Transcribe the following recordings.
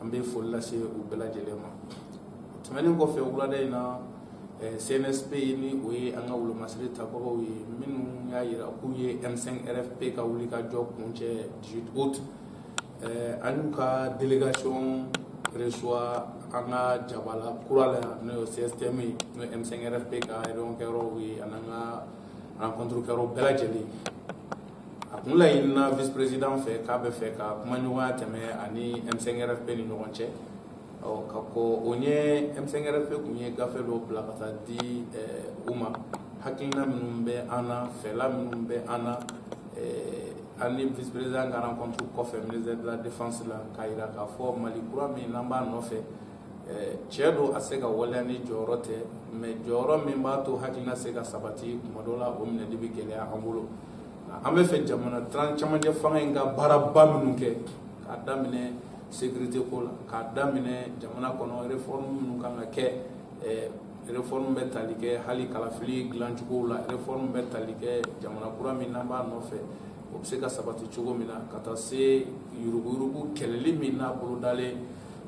an bɛ foli lase u bɛɛ lajɛlen ma tɛmɛnen kɔfɛ wulada in na eh, CNSP ni o ye an ka wolomasiri tabagaw ye minnu y'a jira k'u ye M5 RFP ka wulikajɔ kuncɛ 18 août eh, an y'u ka délégation reçoit an ka jabala kura la n'o ye CSTM ye n'o ye M5 RFP ka réunion kɛyɔrɔw ye an'an ka rencontre kɛyɔrɔ bɛɛ lajɛlen a kun laɲinina vice président fɛ k'a bɛ fɛ ka kumaɲɔgɔnya tɛmɛ a ni M5RFP ni ɲɔgɔn cɛ ka kɔn o ɲɛ M5RFP kun ye gafe dɔ bila ka taa di u ma hakilina minnu bɛ an na fɛla minnu bɛ an na an ni vice président ka rencontre kɔfɛ ministère de la défense la k'a jira k'a fɔ Mali kura min n'an b'a nɔfɛ cɛn don a se ka waleya ni jɔyɔrɔ tɛ mɛ jɔyɔrɔ min b'a to hakilina se ka sabati kuma dɔ la o minɛli bɛ gɛlɛya an bolo an b'a fɛ jamana tran camancɛ fanga in ka baaraba minnu kɛ k'a daminɛ sekirite ko la k'a daminɛ jamana kɔnɔ refɔrɔmu minnu kan ka kɛ refɔrɔmu bɛ tali kɛ hali kalafili dilancogow la refɔrɔmu bɛ tali kɛ jamana kura min n'an b'a nɔfɛ o bɛ se ka sabati cogo min na ka taa se yuruguyurugu kɛlɛli min n'a bolodalen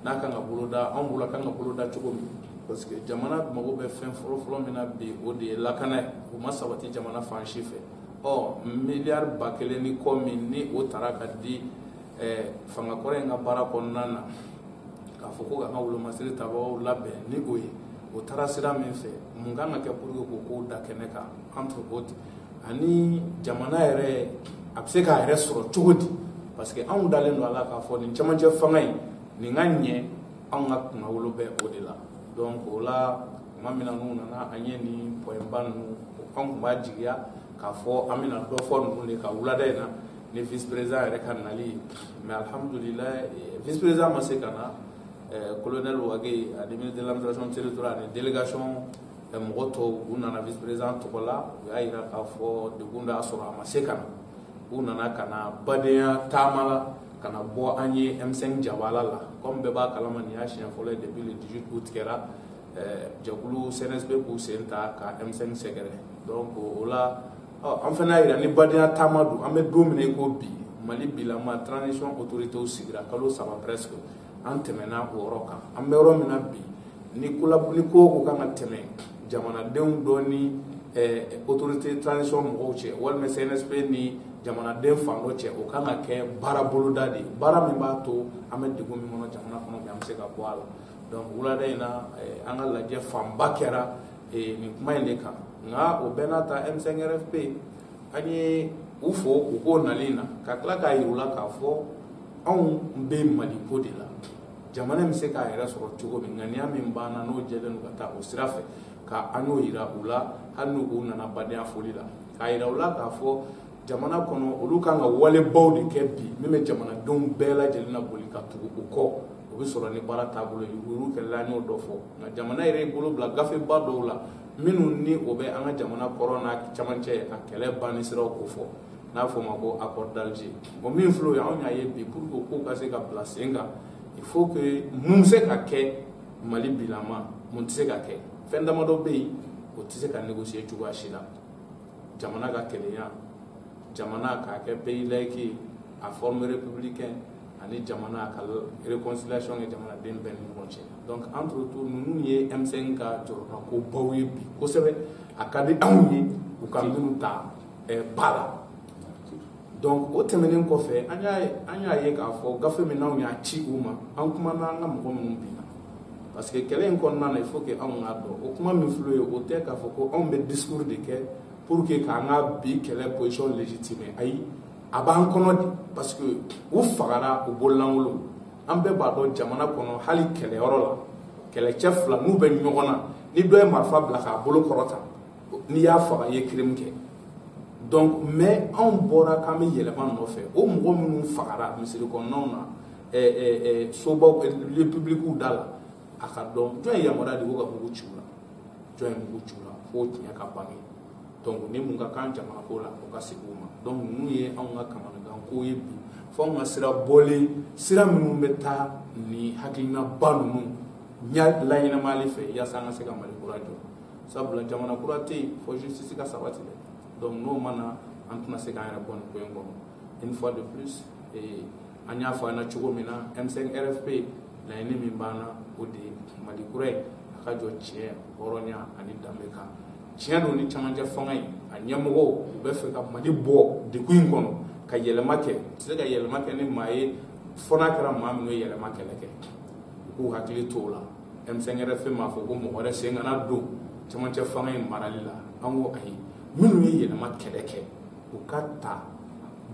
n'a kan ka boloda an bolo kan ka boloda cogo min parce que jamana mago bɛ fɛn fɔlɔfɔlɔ min na bi o de ye lakana ye o ma sabati jamana fan si fɛ ɔ miliyari ba kelen ni kɔ min ni o tara ka di eh, fanga kɔrɔ in ka baara kɔnɔna na k'a fɔ ko k'an ka wolomasiri tabagaw labɛn ni o ye o taara sira min fɛ mun kan ka kɛ pour que k'o kow da kɛnɛ kan entre autres ani jamana yɛrɛ a bɛ se k'a yɛrɛ sɔrɔ cogo di parce que anw dalen don a la k'a fɔ nin cɛmancɛ fanga in nin ka ɲɛ anw ka kunnawolo bɛ o de la donc o la tuma min na n'u nana an ye nin pɔyɛnba ninnu an tun b'a jigiya k'a fɔ an bɛna dɔ fɔ ninnu de kan wulada in na ni vice président yɛrɛ ka nali mais alhamdulilayi eh, vice président ma se ka na eh, colonel Wagué ani ministre de l'administration territoriale ani délégation Ɛ mɔgɔ tɔw u nana vice président tɔgɔ la, u y'a jira k'a fɔ degun de y'a sɔrɔ a ma se ka na, u nana ka na badenya taama la ka na bɔ an ye M5 jabala la comme bɛɛ b'a kalama nin y'a siɲɛ fɔlɔ ye depuis le 18 août kɛra ɛ jɛkulu CNSP k'u sen ta ka M5 sɛgɛrɛ donc o la ɔ an fana y'a jira ni badenya taama don an bɛ don min na i ko bi Mali bilama transition autorités sigira kalo saba presque an tɛmɛna o yɔrɔ kan an bɛ yɔrɔ min na bi ni kolabli ko ko kan ka tɛmɛ jamanadenw dɔ ni autorité transition mɔgɔw cɛ walima CNSP ni jamanaden fan dɔ cɛ o kan ka kɛ baara boloda de ye baara min b'a to an bɛ degun min kɔnɔ jamana kɔnɔ an bɛ se ka bɔ a la donc wulada in na an ka lajɛ fanba kɛra nin kuma in de kan nka o bɛɛ n'a ta M5RFP an ye u fo u k'o nalen na ka tila k'a yira u la k'a fɔ anw bɛ mali ko de la jamana bɛ se k'a yɛrɛ sɔrɔ cogo min ŋaniya min b'an na n'o jɛlen don ka taa o sira fɛ ka an y'o yira u la hali n'u u nana badenya foli la k'a yira u la k'a fɔ jamana kɔnɔ olu kan ka walebaw de kɛ bi min bɛ jamanadenw bɛɛ lajɛlen na boli ka tugu u kɔ o bɛ sɔrɔ ni baara taabolo ye olu kɛlɛla an y'o dɔ fɔ nka jamana yɛrɛ bolo bila gafeba dɔw la minnu ni o bɛ an ka jamana kɔrɔn n'a camancɛ a kɛlɛ banni siraw kofɔ n'a fɔ ma ko accord d'Alger o min fila ye anw y'a ye bi pour que k'o ka se ka bila sen kan il faut que mun se ka kɛ mali bilama mun tɛ se ka kɛ fɛn damadɔ bɛ yen o tɛ se ka négocier cogoya si la jamana ka kelenya jamana ka kɛ pays laïc a forme républicaine ani jamana ka réconciliation kɛ jamanaden bɛɛ ni ɲɔgɔn cɛ donc entre tout ninnu ye M5 ka jɔrɔnako baw ye bi kosɛbɛ a ka di anw ye u ka ninnu ta eh, ba la donc o tɛmɛnen kɔfɛ an y'a an y'a ye k'a fɔ gafe min n'anw y'a ci u ma an kumana an ka mɔgɔ minnu bi parce que kɛlɛ in kɔnɔna na il faut que anw k'a dɔn o kuma min filɛ o tɛ k'a fɔ ko anw bɛ discours de kɛ pour que k'an ka bi kɛlɛ position légitimer ayi a b'an kɔnɔ de parce que u fagara u bololankolon an bɛɛ b'a dɔn jamana kɔnɔ hali kɛlɛyɔrɔ la kɛlɛcɛ fila n'u bɛ ɲɔgɔn na ni dɔ ye marifa bila k'a bolo kɔrɔta n'i y'a faga i ye crime kɛ donc mais anw bɔra k'an bɛ yɛlɛma nɔfɛ o mɔgɔ minnu fagara misiri kɔnɔnaw na eh, eh, eh, sobaw lieu publikiw da la a ka dɔn jɔn ye yamaruya di ko ka mugu ci u la jɔn ye mugu ci u la fo tiɲɛ ka bange donc ni mun ka kan jamana ko la o ka sigi u ma donc ninnu ye anw ka kamanagan ko ye bi fo anw ka sira bɔlen sira minnu bɛ taa ni hakilinaba ninnu ɲa laɲɛnamali fɛ yaasa an ka se ka mali kura jɔ sabula jamana kura tɛ yen fo justice ka sabati dɛ donc n'o ma na an tɛna se k'an yɛrɛ bɔ nin ko in kɔnɔ une fois de plus eh, an y'a fɔ an na cogo min na m5 rfp laɲini min b'an na o de ye mali kura ye a ka jɔ tiɲɛ hɔrɔnya ani danbe kan tiɲɛ don ni camancɛ fanga in a ɲɛmɔgɔw b'a fɛ ka mali bɔ degun in kɔnɔ ka yɛlɛma kɛ tɛ se ka yɛlɛma kɛ ni maa ye fo n'a kɛra maa minnu ye yɛlɛma kɛlɛ kɛ u k'u hakili to o la m5 rfp m'a fɔ ko mɔgɔ wɛrɛ sen kana don camancɛ fanga in marali la an ko ayi minnu ye yɛlɛma kɛlɛ kɛ u ka ta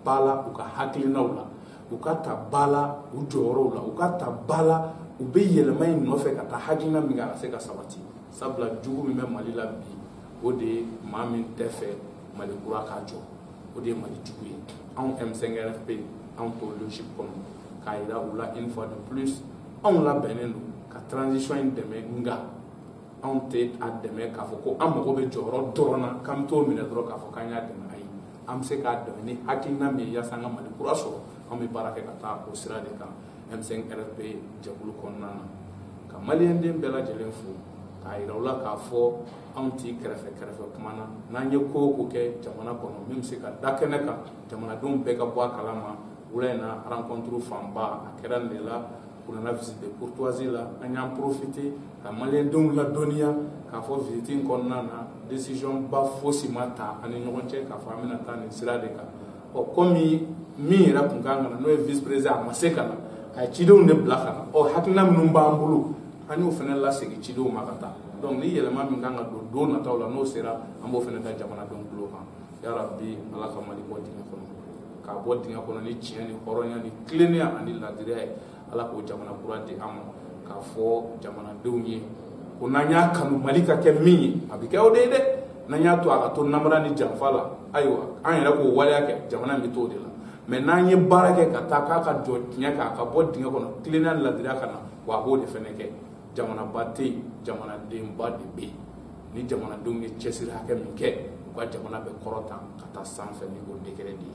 ba la u ka hakilinaw la u ka ta ba la u jɔyɔrɔw la u ka ta ba la u bɛ yɛlɛma in nɔfɛ ka taa hakilina min kɛ a ka se ka sabati sabula jugu min bɛ mali la bi o de ye maa min t'a fɛ mali kura ka jɔ o de ye mali jugu ye anw m5rfp anw t'o logique kɔnɔ k'a yira u la une fois de plus anw labɛnnen don ka transition in dɛmɛ nka anw tɛ a dɛmɛ k'a fɔ ko an mago bɛ jɔyɔrɔ dɔrɔn na k'an bɛ t'o minɛ dɔrɔn k'a fɔ k'an y'a dɛmɛ ayi an bɛ se k'a dɛmɛ ni hakilina min ye yaasa an ka mali kura sɔrɔ anw bɛ baara kɛ ka taa o sira de kan M5RFP jɛkulu kɔnɔna na ka maliyɛnden bɛɛ lajɛlen fo k'a yira u la k'a fɔ anw tɛ kɛrɛfɛ kɛrɛfɛ kuma na n'an ye ko o ko kɛ jamana kɔnɔ min bɛ se ka da kɛnɛ kan jamanadenw bɛɛ ka bɔ a kalama wula in na rencontre fanba a kɛra nin de la une visite de courtoisie la an y'an profite ka maliyɛndenw ladɔnniya k'a fɔ visite in kɔnɔna na décision ba fosi ma ta an ni ɲɔgɔn cɛ k'a fɔ an bɛna taa nin sira de kan ɔ kɔmi min yɛrɛ kun ka kan ka na n'o ye vice président a ma se ka na a ye cidenw de bila ka na ɔ hakilina minnu b'an bolo an y'o fana lasegin cidenw ma ka taa donc ni yɛlɛma min ka kan ka don don nataw la n'o sera an b'o fana da jamanadenw tulo kan yarabi ala ka mali bɔ dingɛ kɔnɔ k'a bɔ dingɛ kɔnɔ ni tiɲɛ ni hɔrɔnya ni tilennenya ani laadiriya ye ala k'o jamana kura di an ma k'a fɔ jamanadenw ye ko n'an y'a kanu mali ka kɛ min ye a bɛ kɛ o de ye dɛ n'an y'a to a ka to namara ni janfa la ayiwa an yɛrɛ k'o waleya kɛ jamana in bɛ t'o de la mɛ n'an ye baara kɛ ka taa k'a ka jɔ tiɲɛ kan a ka bɔ dingɛ kɔnɔ tilennenya laadiriya ka na wa a b'o de fɛnɛ kɛ jamanaba tɛ yen jamanadenba de bɛ yen ni jamanadenw ye cɛsiri hakɛ min kɛ u ka jamana bɛ kɔrɔta ka taa sanfɛ ni o degré de ye